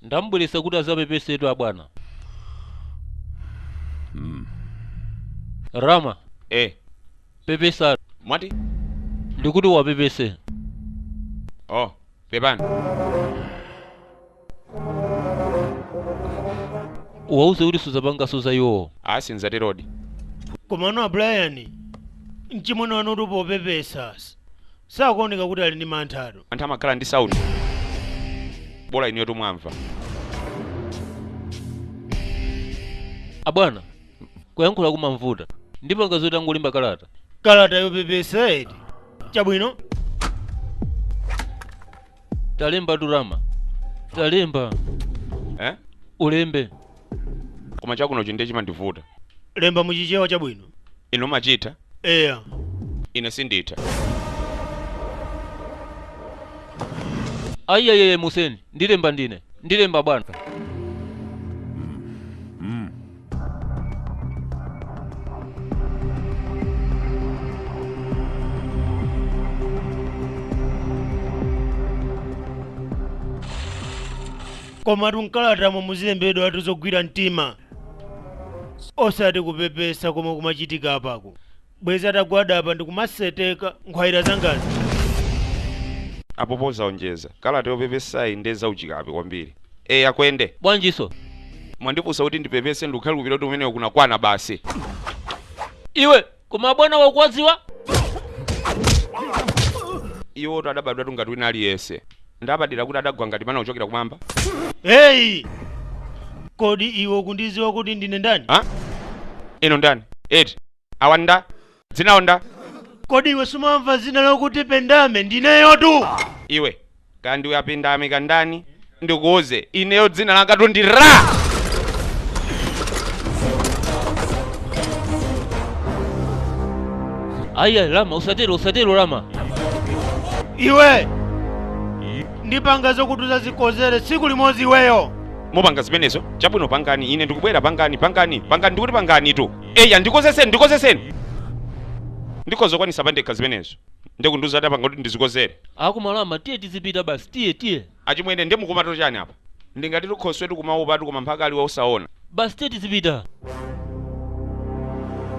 ndamubweretsa kuti azapepesetu abwana rama eh pepesa mwati ndikuti wapepese oh pepani uwauze kuti suzapanganso za iwo a sinzatero komano a brian mchimwene wanu tu popepesa s- sakuoneka kuti ali ndi manthatu anthu amakhala ndi sauti bola inuyo tu mwamva abwana kuyankhula kumamvuta ndipo pangani zoti angolemba kalata kalata yopepesa edi chabwino talemba durama talemba eh? ulembe koma chakunjachi ndiye chimandivuta lemba muchichewa chabwino inu mumachitha eya ine sinditha ayi ayi museni ndilemba ndine ndilemba bwana komatu mkalatamo muzilembedwatu zogwira mtima osati kupepesa komwe kumachitika apaku bwezi atagwada apa ndikumaseteka nkhwaira zangazi apo pozaonjeza kalata yopepesayi nde zauchikape kwambiri eya akuende bwanjiso mwandifunsa kuti ndipepese ndikukhulupira kuti kumene kuja kwakwana basi iwe koma abwana ukuwadziwa iwotu adabadwatu ngati wina aliyense ndapadera kuti adagwa ngati mana kuchokera kumwamba heyi kodi iwe ukundiziwa kuti ndine ndani ha inu ndani eti awa nda dzina lawo nda kodi iwe sumamva zina lokuti pendame ndineyotu iwe kaya ndiwe apendame kandani ndikuuze ineyo dzina langatu ndi la ayi ayi lama usatero usatero lama iwe ndipanga zokuti uzazikodzere tsiku limodzi iweyo mupanga zimenezo chabwino pangani ine ndikubwera pangani pangani pangani ndikuti panganitu eya ndikodzetseni ndikodzetseni ndikhoza kukwanisa pandekha zimenezo nde akundiuza kuti apanga kuti ndizikodzere aku ma lama tiye tizipita basi tiye tiye achimwene ndi mukumati chani apa ndingati ndi khoswetu kumaopatu koma mphaka ali wosaona basi tiye tizipita